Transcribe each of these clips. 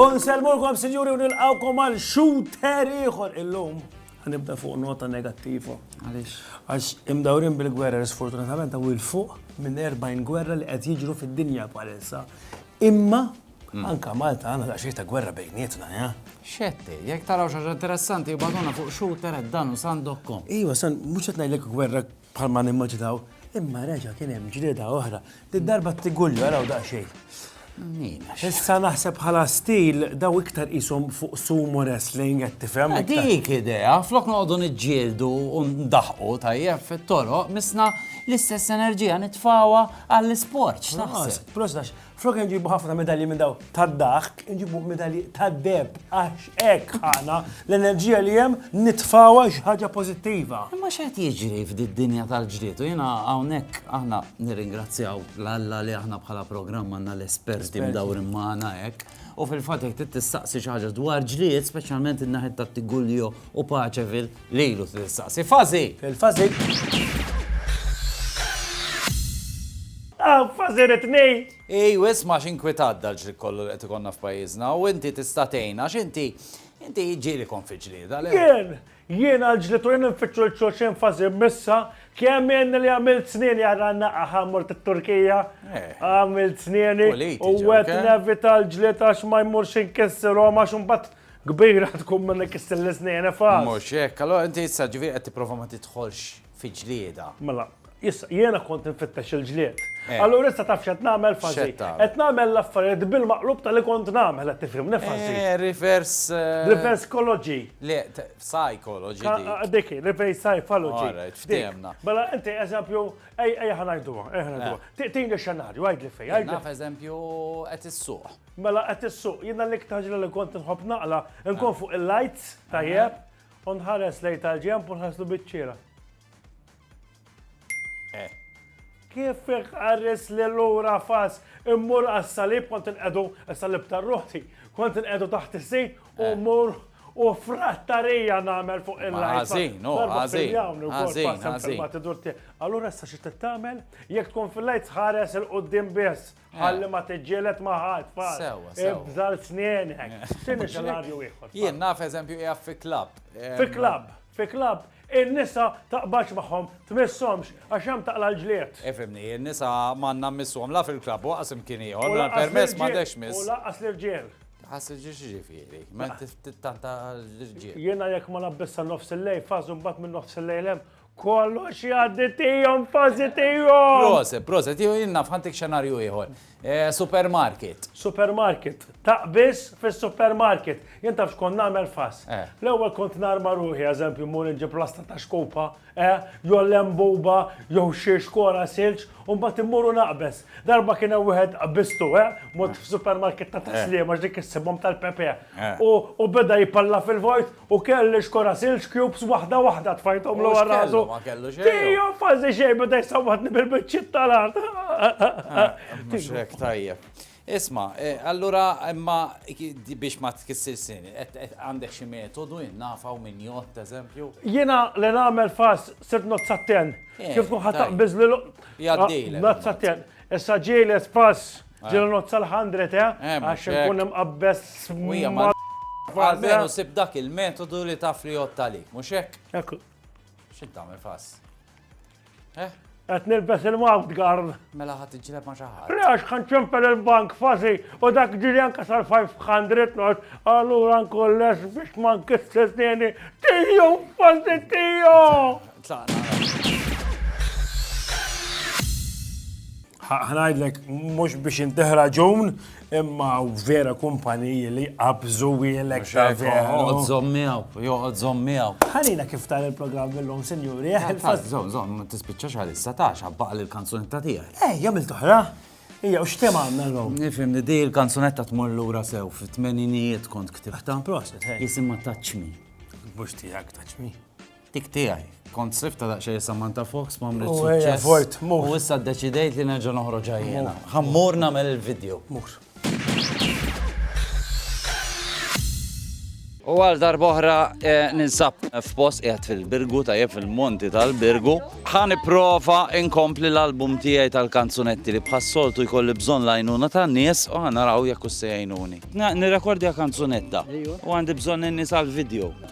Unselmulkom sinjuri u nilqawkom għal shooter ieħor illum. Ħanibda fuq nota negattiva. Għaliex? Għax imdawrin bil-gwerra sfortunatament għaw il-fuq minn 40 gwerra li qed jiġru fid-dinja bħalissa. Imma Anka Malta għandna daqsxejn ta' gwerra bejnietna, jah? Xetti, jekk taraw xi ħaġa interessanti ibgħatulna fuq shooter@danusan.com. Iva, San, mhux qed ngħidlek gwerra bħal ma nimmaġinaw, imma reġa' kien hemm ġlieda oħra. Did-darba t-Tigulju araw daqsxejn. Issa naħseb bħala stil daw iktar qishom fuq sumo wrestling qed tifhem. Dik idea, flok noqogħdu niġġieldu u ndaħqu tajjeb fit-toroq, misna l-istess enerġija nitfawha għall-isport. X'taħseb? Prost għax Flok nġibu ħafna medalji minn daw tad-daħk, nġibu medalji tad-deb, għax hekk ħana l-enerġija li hemm nitfawa xi ħaġa pożittiva. Imma x'qed jiġri f'did-dinja tal-ġdid u jiena hawnhekk aħna nirringrazzjaw l-Alla li aħna bħala programm għandna l-esperti mdawrin magħna hekk. U fil-fatt jekk tistaqsi xi ħaġa dwar ġlied, speċjalment in-naħed ta' Tigulio u Paċevil, Lilu trid issaqsi. Fażi! Il-fażi. Hawn fażi rid ngħid! Ejw isma' x'inkwitat dal-ġlied kollu li qed ikollna f'pajjiżna u inti tista' tgħin għax inti inti ġieli kont fi ġlieda le? Jien! Jien għal ġlied u jien infittxu 'l xulxin fażi missa. Kemm ilni li għamilt snieni għal għannaqqa ħa mort it-Turkija. Għamilt snieni u għedt nevita l-ġlied għax ma jmurx inkissirhom għax imbagħad Kbira tkun minnek istilliżni jien ifgħas. Mhux hekk, allura inti issa ġifieri qed tipprova ma tidħolx fi ġlieda. Mela, issa jiena kont infittex il-ġlied. Eh. Allura issa taf x'qed nagħmel Fażi? X'qed tagħmel? Qed nagħmel l-affarijiet bil-maqlub ta' li kont nagħmel, qed tifhimni Fażi? Eh, reverse. Eh, reverse ecology. Le, psychology dik. Dik, reverse psychology. All right, ftehemna. Mela inti eżempju, ejja ħanajduha, ejja ħanajduha. Tini xenarju, għidli fej, għidli. Naf eżempju qed issuq. Mela qed issuq, jiena l-iktar ġrieħ li kont inħobb naqla, inkun fuq il-lights tajjeb, u nħares lejn tal-ġenb u nħarslu biċ-ċiera. Eh. Kif iħares li lura fas, immur għas-salib kont inqedu, is-salib tar-ruħti, kont inqedu taħt is-sit u Eh. mmur u frattarija nagħmel fuq Ma il-lights. ħażin, oh, Darba ħażin, fil-jawm li wkoll ħażin, passem ħażin. filmat idur tiegħek. Allura issa xi tagħmel? Jekk tkun fil-lights ħares il-qudiem biss. Ħalli ma tiġġielet ma ħadd fal. Sewa, sewa. Ibżal snienek. X'inhi xenarju ieħor? Jien naf eżempju qiegħed fi klabb. Fi klabb, fi klabb, in-nisa taqbax magħhom, tmisshomx, għax hemm taqla l-ġlied. Ifimni, in-nisa m'għandna mmisshom la fil-klabb u qasem kien ieħor, permess ma dex miss. U laqas l-irġiel. Ħassi ġiex ġifieri, ma tanta l-irġiel. Jiena jekk ma nabbissa nofs il-lej, fażu mbagħad minn nofs il-lejlem Kollox jgħaddi tijom fazi tijom! Proset, proset, jgħu jinna fħantik xenarju jħor. Eh, supermarket. Supermarket. Taqbis fis supermarket Jien tafx kon namel fas. Eh. L-ewel kont narma ruħi, eżempju, mur nġib plasta ta' xkupa, eh, jew lembuba, jew xie xkora silġ, un bat immuru naqbes. Darba kien hemm wieħed qbistu, eh, mot f'supermarket ta' taslima ġdik issibhom tal-Pepe. U beda jipalla fil-vojt U kelli xkora silġ cubes waħda waħda tfajthom l rasu. Ma kellu xejn. Tija fazi xejn bada jisawatni bil-bicċit tal-art. Ah, Mxek tajjeb. Isma, e, allura imma biex ma tkissir sin, għandek xi metodu jinnafaw minn jott, eżempju? Jiena li nagħmel fas sirt nozzatten. Eh, Kif kun ħattaq biżlilu? Jaddil. Ah, nozzatten. Issa ġieles pass ġilu nozza l-100 eh? eh Għax nkun hemm qabbes Għalmenu sib dak il-metodu li taf li jotta li, mux hekk? Ekku. Xint tagħmel fass? Eh? Qed nilbes il-mouth guard. Mela ħadd iġleb ma' xi ħadd. Għax kan ċempel il-bank fażi u dak ġiri anke sal-500 not, allura nkolles biex ma nkissesni tiju fażi tiju. ħnajdlek mhux biex inteħra ġun, imma vera kumpaniji li qabżu wielek ta' vera. Joqgħod żommijaw, joqgħod żommijaw. Ħalina kif tal il-programm illum, sinjuri. Eh, eh, żomm, żomm, ma tispiċċax għal issa ta' xabbaq l-kanzunetta tiegħek. Eh, jagħmel toħra. Ija, u xtem għanna l-lum? Nifim, di l-kanzunetta tmur l-ura sew, fit-tmeninijiet kont ktibta. Proset, Jisimma taċmi. Bux tijak taċmi. Tik tiegħi. Kont sifta daqsxejn Samantha Fox ma mrid suċċess. U issa ddeċidejt li nerġa' noħroġ ħajjena. Ħammur nagħmel il-video. Mur. U għal darboħra eh, ninsab f'post qiegħed fil-Birgu tajjeb fil-Monti tal-Birgu. Ħan prova inkompli l-album tiegħi tal-kanzunetti li bħas-soltu jkolli bżonn lajnuna tan-nies u ħan naraw jekk se jgħinuni. Nirrekordja kanzunetta u għandi bżonn in-nies għall-video.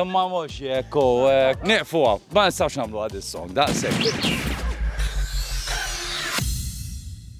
Imma mhux jekk u nieqfu hawn, ma nistgħux nagħmlu għad is-song daqshekk.